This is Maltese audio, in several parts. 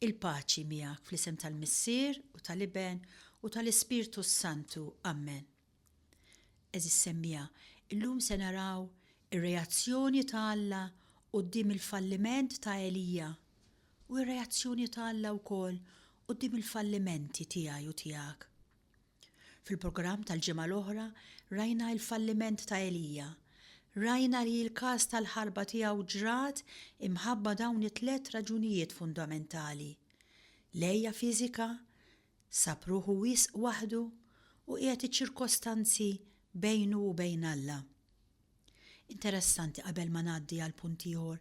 Il-paċi miegħek fl-isem tal-Missier u tal-Iben u tal-Ispirtu s-Santu. Ammen. Għeżież semmiegħa, illum se naraw ir-reazzjoni ta' Alla quddiem il-falliment ta' Elija u r-reazzjoni ta' Alla wkoll quddiem il-fallimenti tiegħi u tiegħek. Fil-programm tal-ġimgħa l-oħra rajna il-falliment ta' Elija. Rajna li l-każ tal-ħarba tiegħu ġrat imħabba dawn it-tliet raġunijiet fundamentali, l-għeja fiżika, sab ruħu wisq waħdu u qiegħed iċ-ċirkostanzi bejnu u bejn Alla. Interessanti qabel ma ngħaddi għal punt ieħor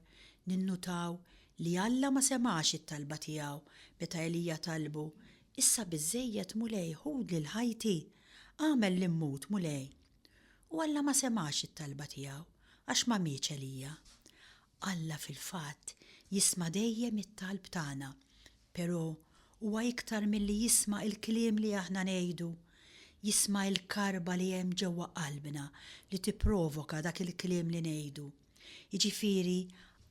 ninnutaw li Alla ma semgħax it-talba tiegħu meta Elija talbu, Issa biżżejjed, Mulej, ħud lil ħajti, agħmel li mmut, Mulej. U Alla ma semgħax it-talba tiegħu għax ma mietx Elija. Alla fil-fatt jisma' dejjem it-talb tagħna, però huwa iktar milli jisma' il-kliem li aħna ngħidu, jisma' il-karba li hemm ġewwa qalbna li tipprovoka dak il-kliem li ngħidu. Jiġifieri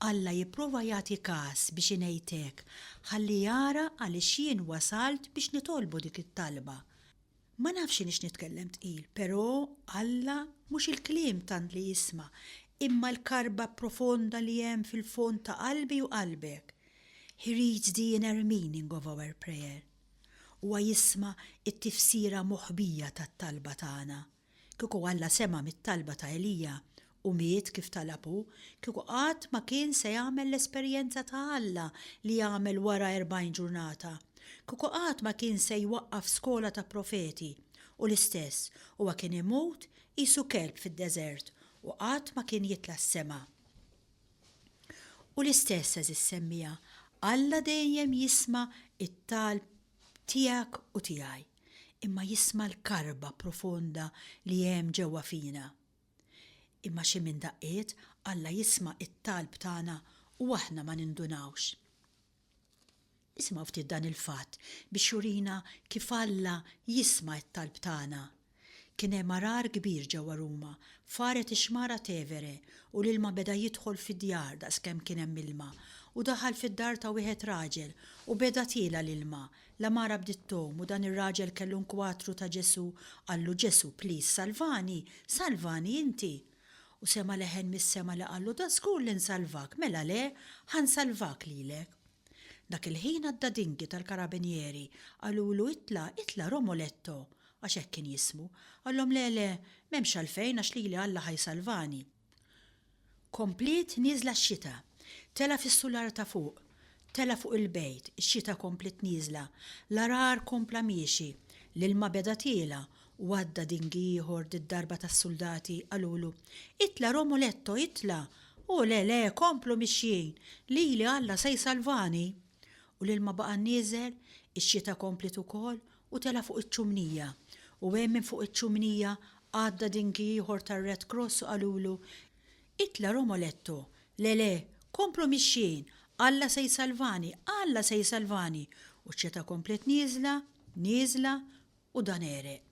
Alla jipprova jagħti każ biex ingħid hekk ħalli jara għaliex jien wasalt biex nitolbu dik it-talba. Ma nafx inix nitkellem tqil, pero' Alla mhux il-kliem tant li jisma', imma l-karba profonda li hemm fil-fond ta' qalbi u qalbek. He reads the inner meaning of our prayer. Huwa jisma' t-tifsira moħbija tat-talba tagħna. Kieku Alla sema' mit-talba ta' Elija, u miet kif talab hu, kieku qatt ma kien se jagħmel l-esperjenza ta' Alla li għamel wara erbgħin ġurnata. Kieku qatt ma kien se jwaqqaf skola ta' profeti. U l-istess, huwa kien imut qisu kelb fid-deżert u qatt ma kien jitla' s-sema. U l-istess, għeżież semmiegħa, Alla dejjem jisma' t-talb tiegħek u tiegħi, imma jisma' l-karba profonda li hemm ġewwa fina. Imma xi minn daqqiet Alla jisma' t-talb tagħna u aħna ma nindunawx. Isimgħu ftit dan il-fatt biex jurina kif Alla jisma' t-talb tagħna. Kien hemm għargħar kbir ġewwa Ruma, faret ix-xmara Tevere u l-ilma beda jidħol fid-djar daqskemm kien hemm ilma, u daħal fid-dar ta' wieħed raġel u beda tiela' l-ilma, L-għamara bdiet tgħum u dan ir-raġel kellu nkwatru ta' Ġesù, qallu, Ġesù, please, salvani, salvani inti! U sema' leħen mis-sema li qallu, Da żgur li nsalvak, mela le, ħa nsalvak lilek. Dak il-ħin għadda dingi tal-karabinieri, qalulu, Itla', itla' Romoletto! għax hekk kien jismu. Qallhom, Le, le, m'hemmx għalfejn għax lili Alla ħa jsalvani. Kompliet nieżla x-xita. Tela' fis-sular ta' fuq. Tela' fuq il-bejt. Ix-xita kompliet nieżla. L-għargħar kompla miexi. L-ilma beda tiela' u għadda dingi ieħor did-darba tas-suldati qalulu, Itla' Romuletto, itla'! Hu, Le, le, komplu mixjin! Lili Alla se jsalvani! U l-ilma baqa' nieżel, ix-xita kompliet ukoll U tela' fuq iċ-ċumnija. U hemm minn fuq iċ-ċumnija għadda dingi ieħor tar-Red Cross u qalulu, Itla' Romoletto! Le, le, komplu mixjin! Alla se jsalvani, Alla se jsalvani! U ċ-ċeta komplet nieżla, nieżla, u dan għereq.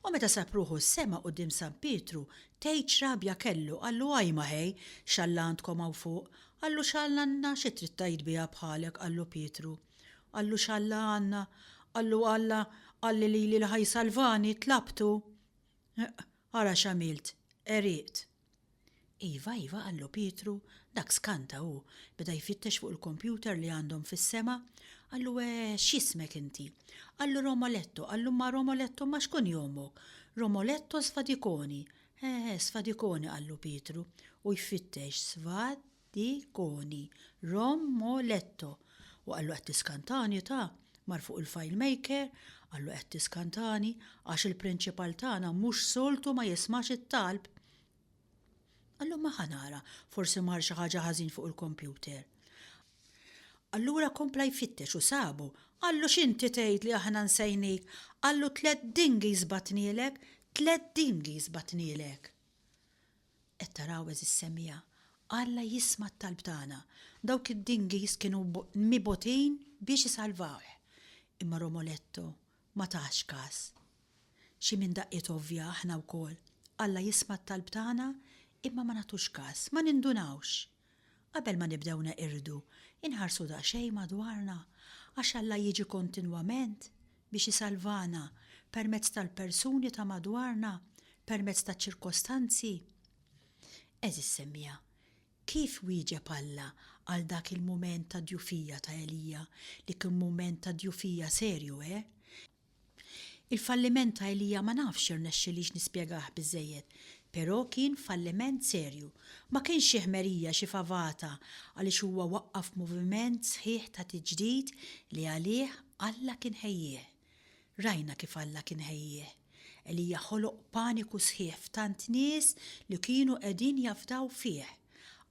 U meta sab ruħu s-sema quddiem San Pietru, tgħid x'rabja kellu, qallu, Ajma ħej, x'Alla għandkom hawn fuq! Qallu, X'Alla għandna, xi trid tgħid biha bħalek, qallu Pietru. Qallu x'Alla għandna? Qallu Alla qalli lili li ħa jsalvani, tlabtu. Ara x'għamilt, għeriqt. Iva, iva, qallu Pietru, dak skanta hu, beda jfittex fuq il-kompjuter li għandhom fis-sema, qallu e, x'jismek inti? Qallu Romoletto, qallu ma Romoletto ma xkun jomok? Romoletto Sfadikoni. Eh, Sfadikoni, qallu Pietru, u jfittex Sfad Di Coni, Rom Mo Letto, u qallu qed tiskantani u ta, mar fuq il-filemaker, qallu qed tiskantani għax il-prinċipal tagħna mhux soltu ma jismax it-talb. Qallu ma ħa nara, forsi mar xi ħaġa ħażin fuq il-kompjuter. Allura kompla jfittex u sabu, qallu x'inti tgħid li aħna nsejnik, qallu tliet dinghies batnielek, tliet dinghies batnielek. Qed taraw, għeżież semija, Alla jisma' t-talb tagħna. Dawk id-dinghies kienu mibotin biex isalvawh. Imma Romoletto ma tax kas. Xi minn daqqiet ovvja aħna wkoll. Alla jisma' t-talb tagħna imma ma nagħtux kas, ma nindunawx. Qabel ma nibdew neqirdu, inħarsu daqsxejn madwarna, għax Alla jiġi kontinwament biex isalvana permezz tal-persuni ta' madwarna, permezz taċ-ċirkostanzi. Għeżież semmiegħa, kif wieġeb Alla għal dak il-mument ta' djufija ta' Elija, li kien mument ta' djufija serju, eh? Il-falliment ta' Elija ma nafx irnexxilix nispjegah biżżejjed, però kien falliment serju. Ma kienx xi ħmerija, xi favata, għaliex huwa waqqaf moviment sħiħ ta' tiġdid li għalih Alla kien ħejjieh. Rajna kif Alla kien ħejjieh. Elija ħoloq paniku sħiħ f'tant nies li kienu qegħdin jafdaw fih.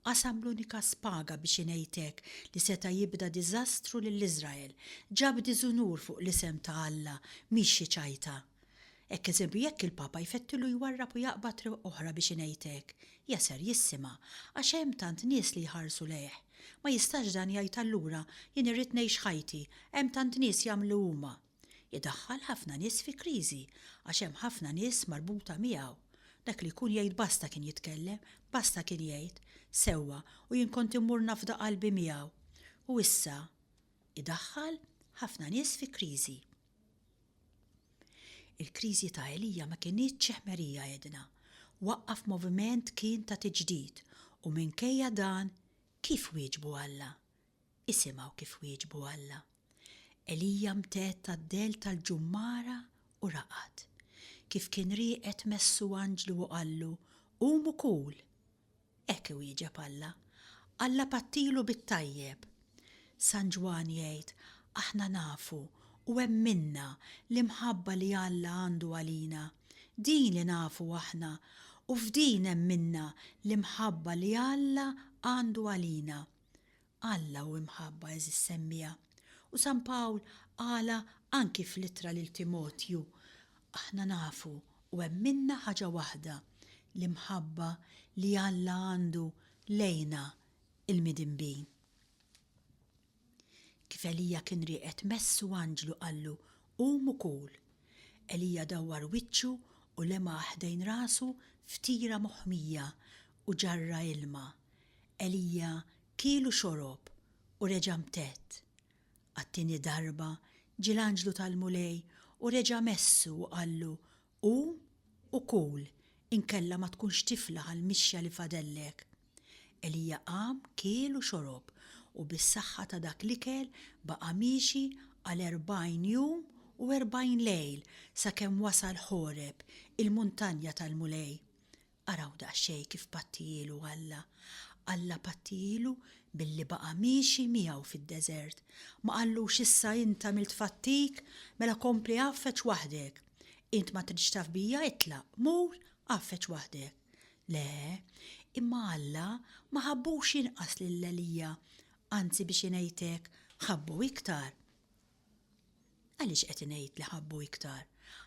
Qasam l-unika spaga, biex ingħidlek, li seta' jibda diżastru lil Iżrael. Ġab diżunur fuq l-isem ta' Alla, mhix xi ċajta. Hekk eżempju jekk il-Papa jfettilu jwarrab u jaqbad triq oħra biex ingħidlek, ja ser jissima', għax hemm tant nies li jħarsu lejh. Ma jistax dan jgħid allura, jien irrid ngħix ħajti, hemm tant nies jagħmlu huma. Idaħħal ħafna nies fi kriżi għax hemm ħafna nies marbuta miegħu. Dak li jkun jgħid basta kien jitkellem, basta kien jgħid, sewwa u jien kont immur nafda qalbi miegħu. U issa idaħħal ħafna nies fi kriżi. Il-kriżi ta' Elija ma kinitx xi ħmerija għedna. Waqqaf moviment kien ta' tiġdid u minkejja dan kif wieġbu Alla? Isimgħu kif wieġbu Alla, Elija mtedd għad-dell tal-ġummara u raqad. Kif kien rieqed messu anġlu u qallu, Qum u kul! Hekk iwieġeb Alla. Alla bgħattilu bit-tajjeb. San Ġwann jgħid, Aħna nafu u hemm minna l-imħabba li Alla għandu għalina. Din li nafu aħna u f'din hemm minna l-imħabba li Alla għandu għalina, Alla hu imħabba, għeżież semmiegħa, u San Pawl qalha anki fl-ittra lil Timotju, Aħna nafu u hemm minna ħaġa waħda, l-imħabba li Alla għandu lejna l-midinbin. Kif Elija kien rieqed messu anġlu qallu, Qum u kul. Elija dawwar wiċċu u lemaha ħdejn rasu f'tira moħmija u ġarra ilma. Elija kiel u xorob u reġa' mtett. Għat-tieni darba ġie l-anġlu tal-Mulej u reġa' messu u qallu, Qum u kul, inkella ma tkunx tiflaħ għall-mixja li fadellek. Elija qam, kiel u xorob, u bis-saħħa ta' dak l-ikel baqa' miexi għal erbgħin jum u erbgħin lejl sakemm wasal Ħoreb, il-muntanja tal-Mulej. Araw daqsxejn kif pattijielu Alla. Alla pattijielu billi baqa' miexi miegħu fid-deżert. Ma qallux issa int għamilt fattik, mela kompli għaffeġ waħdek. Int ma tridx taf bija, itlaq, mur, għaffeġ waħdek. Le, imma Alla ma ħabbux inqas lil Elija, anzi biex ingħidlek, ħabbu iktar. Għaliex qed ingħid li ħabbu iktar?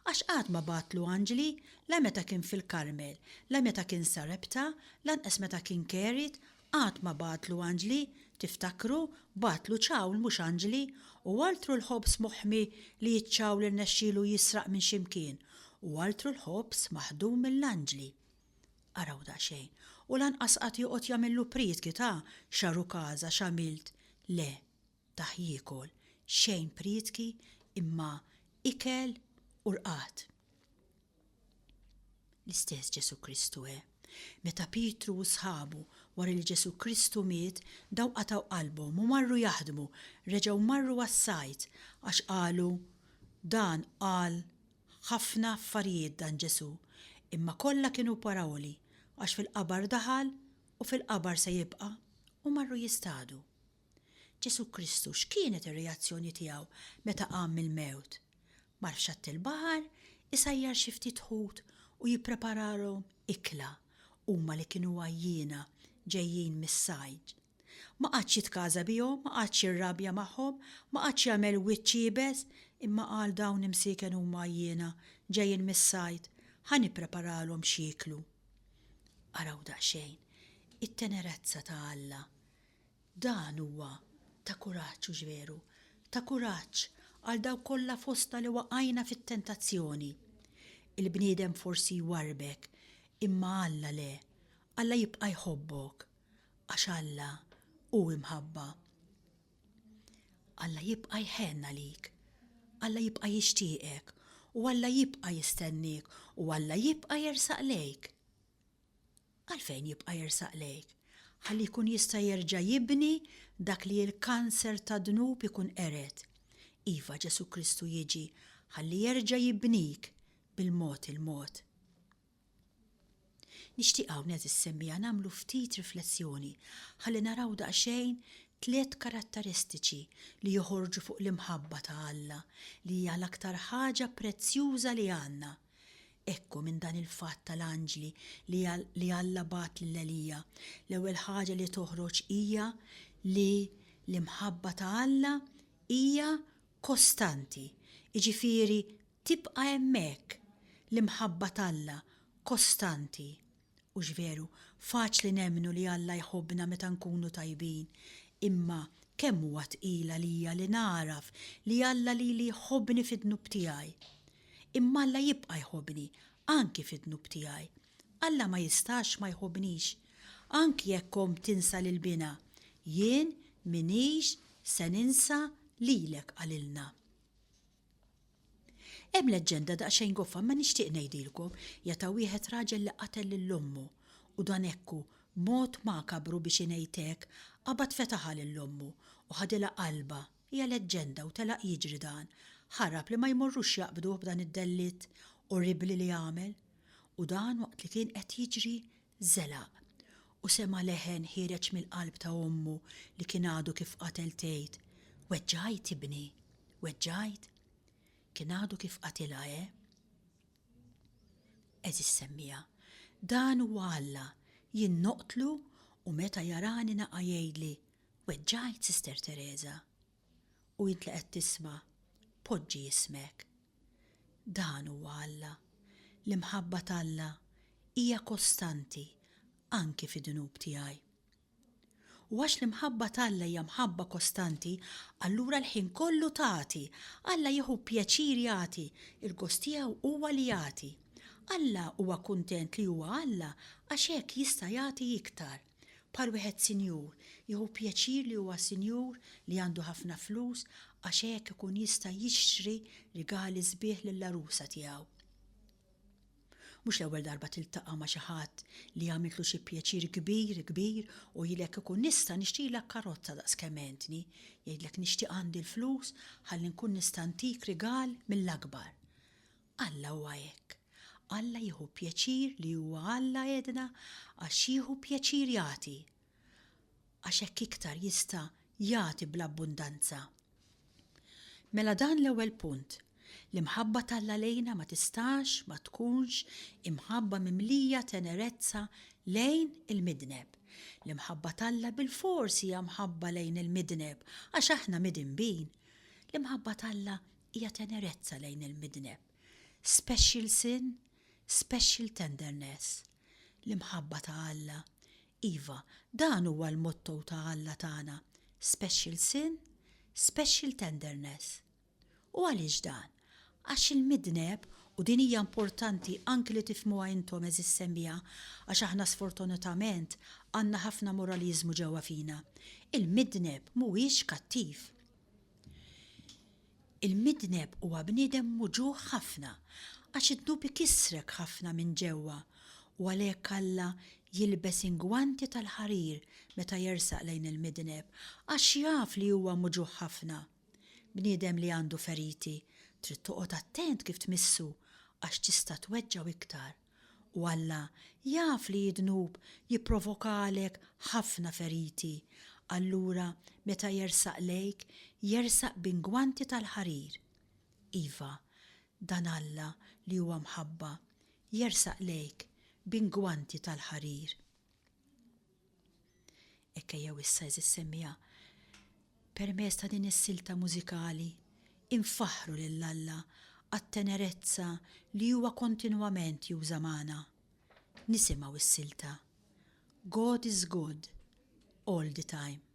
Għax qatt ma bagħatlu anġli, la meta kien fil-Karmel, la meta kien Sarepta, lanqas meta kien Kerit, qatt ma bagħatlu anġli, tiftakru, bagħatlu ċawl mhux anġli, u altru l-ħobż moħmi li ċ-ċawl irnexxielu jisraq minn xi mkien, u altru l-ħobż maħdum mill-anġli. Araw daqsxejn, u lanqas qatt joqgħod jagħmillu prietki ta', x'aru każa, x'għamilt, le, tah jiekol, xejn prietki imma ikel u rqad. L-istess Ġesù Kristu he. Meta Pietru u sħabu wara li Ġesù Kristu miet daw qatgħu qalbhom u marru jaħdmu, reġgħu marru għas-sajd għax qalu, Dan qal ħafna affarijiet dan Ġesù, imma kollha kienu parawli, għax fil-qabar daħal u fil-qabar se jibqa', u marru jistadu. Ġesù Kristu x'kienet ir-reazzjoni tiegħu meta qam mill-mewt? Mar f'xatt il-baħar, isajjar xi ftit ħut u jippreparalhom ikla, huma li kienu għajjiena ġejjin mis-sajd. Ma qagħadx jitkaża bihom, ma qagħadx jirrabja magħhom, ma qagħadx jagħmel wiċċ iebes, imma qal dawn imsieken huma għajjiena ġejjin mis-sajd, ħa nippreparalhom x'jieklu. Araw daqsxejn it-tenerezza ta' Alla! Dan huwa ta' kuraġġ, hux veru? Ta' kuraġġ għal dawk kollha fostna li waqajna fit-tentazzjoni. Il-bniedem forsi jwarrbek, imma Alla le, Alla jibqa' jħobbok, għax Alla hu imħabba. Alla jibqa' jħenn għalik, Alla jibqa' jixtieqek, u Alla jibqa' jistenniek, u Alla jibqa' jersaq lejk. Għalfejn jibqa' jersaq lejk? Ħalli jkun jista' jerġa' jibni dak li l-kanser tad-dnub ikun qered. Iva, Ġesù Kristu jiġi ħalli jerġa' jibnik bil-mod il-mod. Nixtieq hawn qed issemmiha nagħmlu ftit riflessjoni ħalli naraw daqsxejn tliet karattaristiċi li joħorġu fuq l-imħabba ta' Alla li hija l-aktar ħaġa prezzjuża li għandna. Ekku minn dan il-fatt tal-anġli li Alla bagħat lil Elija, l-ewwel ħaġa li toħroġ hija li l-imħabba ta' Alla hija kostanti, jiġifieri tibqa' hemmhekk l-imħabba t'Alla kostanti Hux veru, faċli nemmnu li Alla jħobbna meta nkunu tajbin, imma kemm huwa tqil għalija li nagħraf li Alla lili jħobbni fid-dnub tiegħi! Imma Alla jibqa' jħobbni, anki fid-dnub tiegħi. Alla ma jistax ma jħobbnix. Anki jekk omm tinsa lil binha, jien m'iniex se ninsa lilek qalilna. Hemm leġġenda daqsxejn goffa imma nixtieq ngħidilkom, hija ta' wieħed raġel li qatel lil ommu u dan hekk hu, b'mod makabru biex ingħid hekk, qabad fetaħha lil ommu u ħadilha qalbha, hija leġġenda u telaq jiġri dan, ħarab li ma jmorrux jaqbduh b'dan id-dellitt orribbli li għamel. U dan waqt li kien qed jiġri Żelaq, u sema' leħen ħiereġ mill-qalb ta' ommu li kien għadu kif qatel tgħid, Weġġgħajt ibni? Weġġgħajt? Kien għadu kif qatilha, eh? Għeżież semmiegħa, dan huwa Alla, jien noqtlu u meta jarani naqa' jgħidli, Weġġgħajt, Sister Tereża? u int li qed tisma', poġġi jismek. Dan huwa Alla. L-imħabba t'Alla hija kostanti anki fid-dnub tiegħi. U għax l-imħabba t'Alla hija mħabba kostanti, allura l-ħin kollu tagħti. Alla jieħu pjaċir jagħti, il-gost tiegħu huwa li jagħti. Alla huwa kuntent li huwa Alla għax hekk jista' jagħti iktar. Bħal wieħed sinjur, jieħu pjaċir li huwa sinjur, li għandu ħafna flus, għax hekk ikun jista' jixtri rigali sbieħ lill-għarusa tiegħu. Mhux l-ewwel darba tiltaqa' ma' xi ħadd li għamiltlu xi pjaċir kbir, kbir u jgħidlek ikun nista' nixtrilek karozza daqs kemm għentni, jgħidlek nixtieq għandi l-flus ħalli nkun nista' ntik rigal mill-akbar. Alla huwa hekk. Alla jieħu pjaċir li huwa Alla għedna għax jieħu pjaċir jagħti. Għax hekk iktar jista' jagħti bl-abbundanza. Mela dan l-ewwel punt, l-imħabba t'Alla lejna ma tistax ma tkunx imħabba mimlija tenerezza lejn il-midneb. L-imħabba t'Alla bilfors hija mħabba lejn il-midneb għax aħna midinbin. L-imħabba t'Alla hija tenerezza lejn il-midneb, special sin, special tenderness. L-imħabba ta' Alla, iva, dan huwa l-motto ta' Alla tagħna, special sin, special tenderness. U għaliex dan? Għax il-midneb, u din hija importanti anki li tifhmuha intom għeżież semmiegħa, għax aħna sfortunatament għandna ħafna moraliżmu ġewwa fina, il-midneb mhuwiex kattiv. Il-midneb huwa bniedem muġugħ ħafna għax id-dnub ikissrek ħafna minn ġewwa u għalhekk Alla jilbes ingwanti tal-ħarir meta jersaq lejn il-midneb għax jaf li huwa muġugħ ħafna. Bniedem li għandu feriti trid toqgħod attent kif tmissu għax tista' tweġġgħu iktar. U Alla jaf li d-dnub jipprovokalek ħafna feriti, allura meta jersaq lejk, jersaq b'ingwanti tal-ħarir. Iva, dan Alla li huwa mħabba, jersaq lejk b'ingwanti tal-ħarir. Hekk ejjew issa, għeżież semmiegħa, permezz ta' din is-silta mużikali, infaħħru lil Alla għat-tenerezza li huwa kontinwament juża' magħna. Nisimgħu s-silta God is Good, All the Time.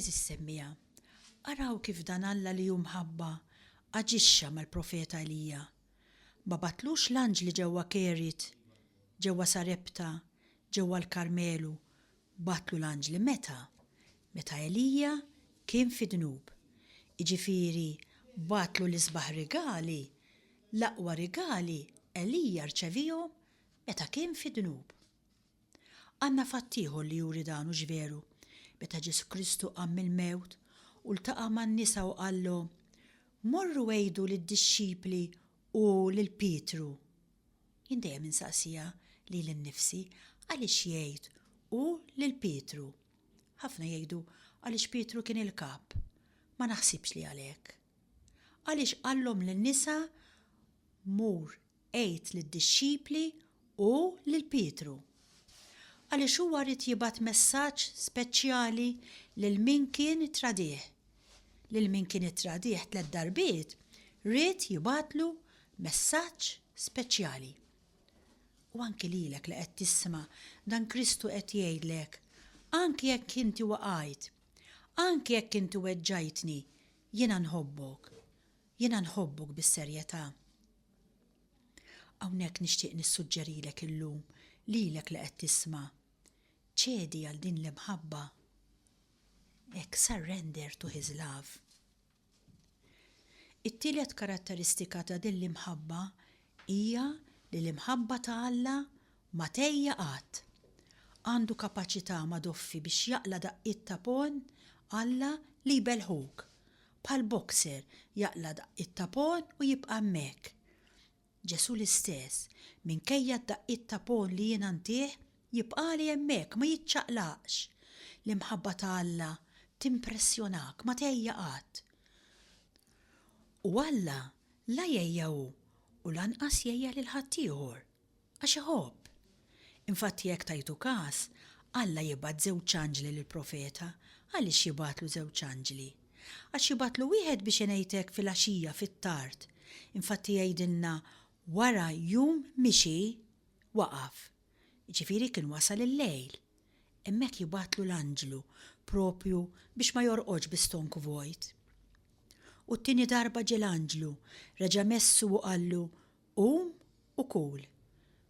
Għeżież semmiegħa, araw kif dan Alla li hu mħabba aġixxa mal-profeta Elija. Ma bagħtlux l-anġli ġewwa Keriet, ġewwa Sarepta, ġewwa l-Karmelu, Bagħtlu l-anġli meta? Meta Elija kien fi dnub. Jiġifieri bagħtlu l-isbaħ rigali, l-aqwa rigali Elija rċevihom meta kien fi dnub. Għandna fatt ieħor li juri dan hux veru? Meta Ġesù Kristu qam mill-mewt u ltaqa' man-nisa u qallhom, Morru għidu lid-dixxipli u lil Pietru. Jien dejjem insaqsiha lili nnifsi għaliex jgħid hu lil Pietru. Ħafna jgħidu għaliex Pietru kien il-kap. Ma naħsibx li għalhekk. Għaliex qallhom lin-nisa mur għid lid-dixxipli hu lil Pietru? Għaliex huwa ried jibgħat messaġġ speċjali lil min kien itradih lil min kien ittradih tliet darbiet ried jibgħatlu messaġġ speċjali. U anki lilek li qed tisma' dan Kristu qed jgħidlek, anki jekk inti waqajt, anki jekk inti weġġajtni, jiena nħobbok, jiena nħobbok bis-serjetà. Hawnhekk nixtieq nissuġġerilek illum lilek li qed tisma' Ċedi għal din l-imħabba hekk surrender to his love. It-tielet karatteristika ta' din l-imħabba hija li l-imħabba ta' Alla ma tgħejja qatt. Għandu kapaċità ma doffi biex jaqla' daqqiet ta' pon Alla li jbelħuk. Bħal boxer jaqla' daqqiet ta' pon u jibqa' hemmhekk. Ġesù l-istess, minkejja d-daqqiet ta' pon li jiena ntih, jibqagħli hemmhekk, ma jiċċaqlaqx. L-imħabba ta' Alla timpressjonak, ma tgħejja qatt. U Alla la jgħejja hu u lanqas jgħejja lil ħaddieħor, għax iħobb. Infatti jekk tajtu kas, Alla jibgħat żewġ anġli lill-profeta. Għaliex jibgħatlu żewġ anġli? Għax jibgħatlu wieħed biex ingħidlek filgħaxija fit-tard. Infatti jgħidilna wara jum mixi, waqaf. Jiġifieri kien wasal il-lejl. Hemmhekk jibgħatlu l-anġlu, proprju biex ma jorqodx bi stonk vojt. U t-tieni darba ġie l-anġlu, reġa' messu u qallu, Qum u kul.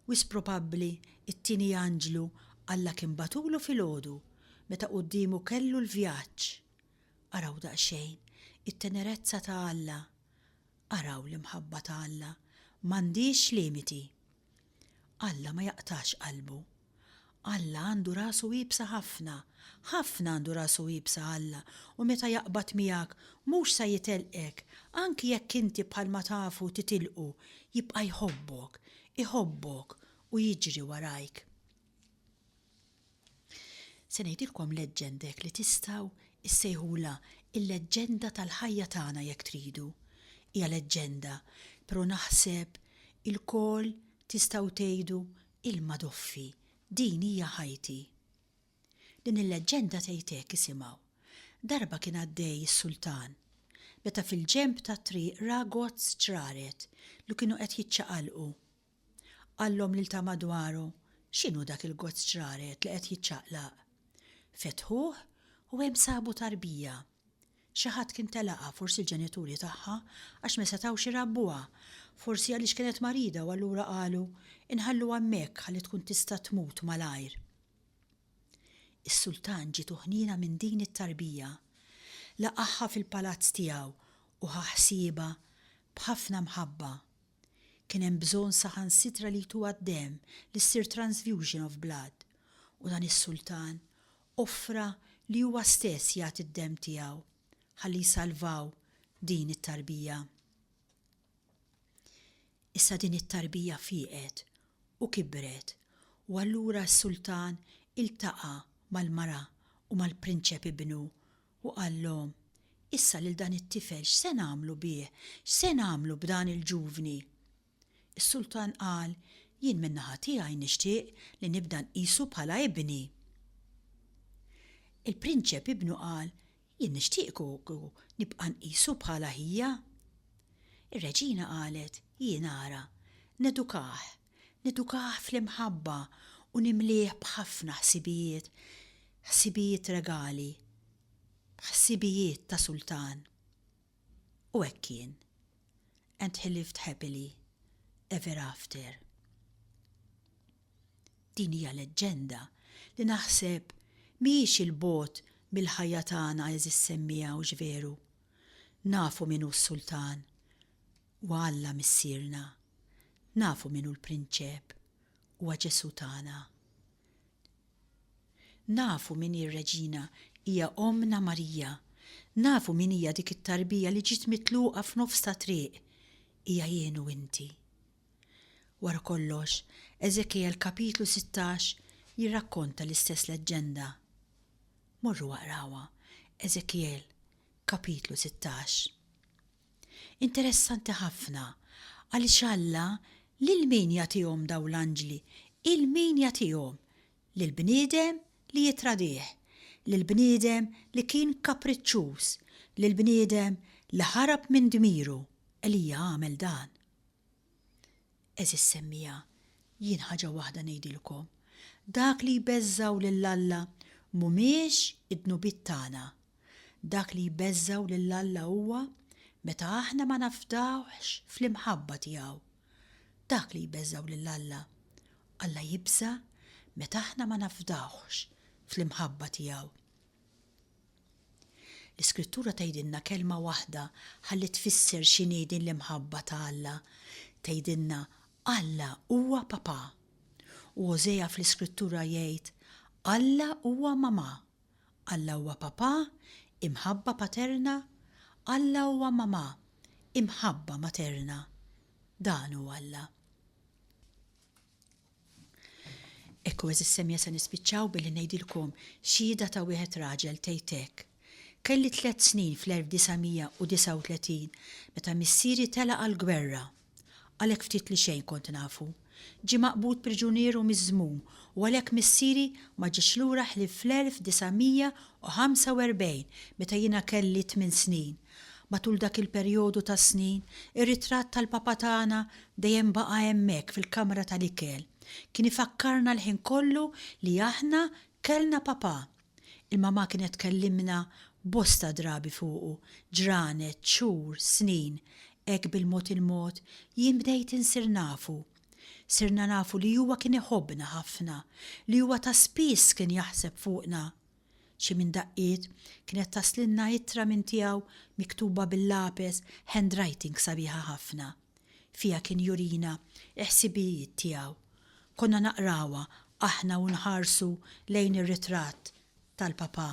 Wisq probabbli t-tieni anġlu Alla kien bagħtulu filgħodu meta quddiemu kellu l-vjaġġ. Araw daqsxejn it-tenerezza ta' Alla. Araw l-imħabba ta' Alla m'għandhiex limiti. Alla ma jaqtax qalbu. Alla għandu rasu iebsa ħafna. Ħafna għandu rasu iebsa Alla u meta jaqbad miegħek mhux sa jitilqek anki jekk inti bħal ma tafu titilqu jibqa' jħobbok, iħobbok u jiġri warajk. Se ngħidilkom leġġendek li tistgħu issejħulha l-leġġenda tal-ħajja tagħna jekk tridu. Hija leġġenda, pero naħseb ilkoll tistgħu tgħidu Ilma doffi, din hija ħajti. Din il-leġġenda tgħid hekk, isimgħu, Darba kien għaddej is-sultan, meta fil-ġenb tat-triq ra gozz ġraret li kienu qed jiċċaqalqu. Qallhom lil ta' madwaru, X'inhu dak il-gozz ġraret li qed jiċċaqlaq? Fetħuh u hemm sabu tarbija Xi ħadd kien telaqha, forsi l-ġenituri tagħha, għax ma setgħux irabbuha, forsi għaliex kienet marida u allura qalu, inħalluha hemmhekk ħalli tkun tista' tmut malajr. Is-sultan ġietu ħniena minn din it-tarbija. Laqagħha fil-palazz tiegħu u ħa ħsiebha b'ħafna mħabba. Kien hemm bżonn saħansitra li jtuha d-demm, li ssir transfusion of blood, u dan is-sultan offra li huwa stess jagħti d-demm tiegħu ħalli jsalvaw din it-tarbija. Issa din it-tarbija fieqet u kibret u allura s-sultan iltaqa' mal-mara u mal-prinċep ibnu u qallhom, Issa lil dan it-tifel x'se nagħmlu bih? X'se nagħmlu b'dan il-ġuvni? Is-sultan qal, Jien min-naħa tiegħi nixtieq li nibda nqisu bħala ibni. Il-prinċep ibnu qal, Jien nixtieq kieku nibqa' nqisu bħala ħija. Ir-reġina qalet, Jien ara, nedukah, nedukah fl-imħabba u nimlieh b'ħafna ħsibijiet, ħsibijiet regali, b'ħsibijiet ta' sultan. U hekk kien. And he lived happily ever after. Din hija leġġenda li naħseb mhijiex 'il bogħod mill-ħajja tagħna għeżież semmiegħa hux veru? Nafu min hu s-Sultan. Huwa Alla Missierna. Nafu min hu l-Prinċep. Huwa Ġesù tagħna. Nafu min hi r-Reġina, hija Ommna Marija. Nafu min hija dik it-tarbija li ġiet mitluqa f'nofs ta' triq, hija jien u inti. Wara kollox, Eżekjel kapitlu sittax jirrakkonta l-istess leġġenda. Morru aqrawha, Eżekjel, kapitlu sittax. Interessanti ħafna, għaliex Alla lil min jagħtihom dawn l-anġli? Il min jagħtihom? Lill-bniedem li jittradih, lill-bniedem li kien kapriċċuż, lill-bniedem li ħarab minn dmiru, Elija għamel dan. Għeżież semmiegħa, jien ħaġa waħda ngħidilkom, dak li jbeżżgħu lil Alla mhumiex id-dnubiet tagħna. Dak li jbeżżgħu lil Alla huwa meta aħna ma nafdawhx fl-imħabba tiegħu. Dak li jbeżżgħu lil Alla. Alla jibża' meta aħna ma nafdawhx fl-imħabba tiegħu. L-Iskrittura tgħidilna kelma waħda ħalli tfisser x'inhi din l-imħabba ta' Alla. Tgħidilna, Alla huwa Papà. U Ożea fl-Iskrittura jgħid, Alla huwa Mamà. Alla huwa Papà, imħabba paterna, Alla huwa Mamà, imħabba materna. Dan hu Alla. Hekk u għeżież semja se nispiċċaw billi ngħidilkom xhieda ta' wieħed raġel tgħid hekk, Kelli tliet snin fl-1939 meta missieri telaq għall-gwerra. Għalhekk ftit li xejn kont nafu. Ġie maqbud priġunier u miżmum u għalhekk missieri ma ġiex lura ħlief fl-1945 meta jiena kelli tmien snin. Matul dak il-perjodu ta' snin, ir-ritratt tal-Papa tagħna dejjem baqa' hemmhekk fil-kamra tal-ikel. Kien ifakkarna l-ħin kollu li aħna kellna Papa. Il-Mamà kienet tkellimna bosta drabi fuqu, ġranet, xhur, snin. Hekk bil-mod il-mod, jien bdejt insir nafu. Sirna nafu li huwa kien iħobbna ħafna, li huwa ta' spiss kien jaħseb fuqna. Xi minn daqqiet, kienet taslilna ittra minn tiegħu miktuba bil-lapes, handwriting sabiħa ħafna. Fiha kien jurina l-ħsibijiet tiegħu. Konna naqrawha aħna u nħarsu lejn ir-ritratt tal-Papà.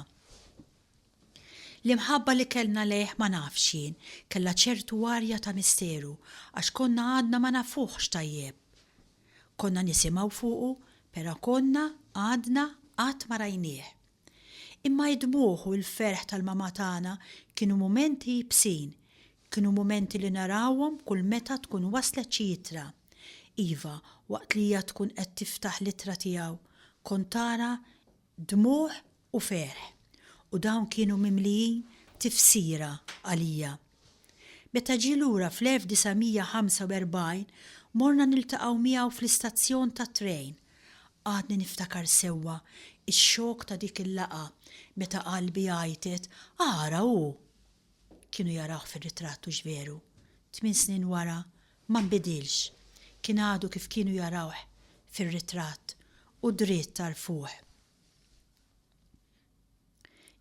L-imħabba li kellna lejh ma nafx jien, kellha ċertu arja ta' misteru għax konna għadna ma nafuhx tajjeb. Konna nisimgħu fuqu, pero' konna, għadna, qatt ma rajnieh. Imma id-dmugħ u l-ferħ tal-mamà tagħna kienu mumenti iebsin, kienu mumenti li narawhom kull meta tkun waslet xi ittra. Iva, waqt li hija tkun qed tiftaħ l-ittra tiegħu, kont ara dmugħ u ferħ, u dawn kienu mimlijin tifsira għalija. Meta ġie lura fl-1945, morna niltaqgħu miegħu fl-istazzjon tat-trejn. Għadni niftakar sewwa x-xokk ta' dik il-laqgħa meta qalbi għajtet, Ara hu! Kienu jarawh fir-ritratt hux veru? Tmien snin wara, Ma nbidilx, kien għadu kif kienu jarawh fir-ritratt u dritt għarfuh.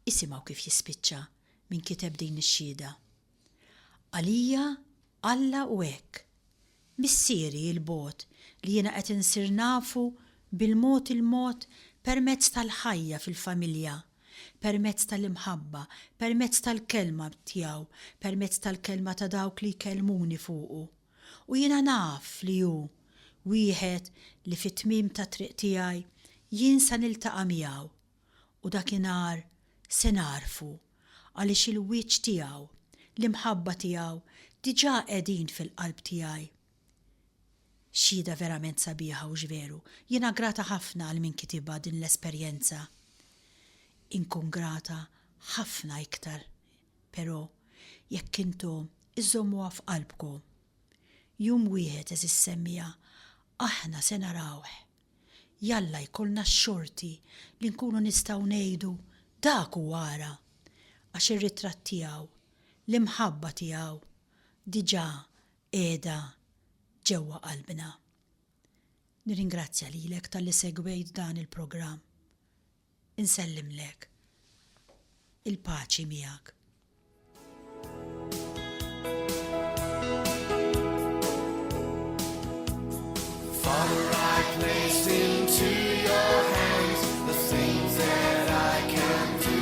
Isimgħu kif jispiċċa min kiteb din ix-xhieda, Għalija Alla hu hekk. Missieri 'il bogħod li jiena qed insir nafu bil-mod il-mod permezz tal-ħajja fil-familja permezz tal-imħabba, permezz tal-kelma tiegħu, permezz tal-kelma ta' dawk li jkellmuni fuqu. U jiena naf li hu wieħed li fit-tmiem tat-triq tiegħi jien sa niltaqa' miegħu, u dakinhar se nagħrfu, għaliex il-wiċċ tiegħu, l-imħabba tiegħu diġà qegħdin fil-qalb tiegħi. Xhieda verament sabiħa hux veru? Jiena grata ħafna għal min kitibha din l-esperjenza. Inkun grata ħafna iktar pero jekk intu iżżommuha f'qalbku. Jum wieħed għeżiż semmiegħa aħna se narawh. Jalla jkollna x-xorti li nkunu nistgħu ngħidu dak hu ara! Għax ir-ritratt tiegħu, l-imħabba tiegħu diġa qiegħda ġewwa qalbna. Nirringrazzja lilek talli segwejt dan il-programm. Insellimlek. Il-paċi miegħek. Father, I placed into your hands the things that I can do.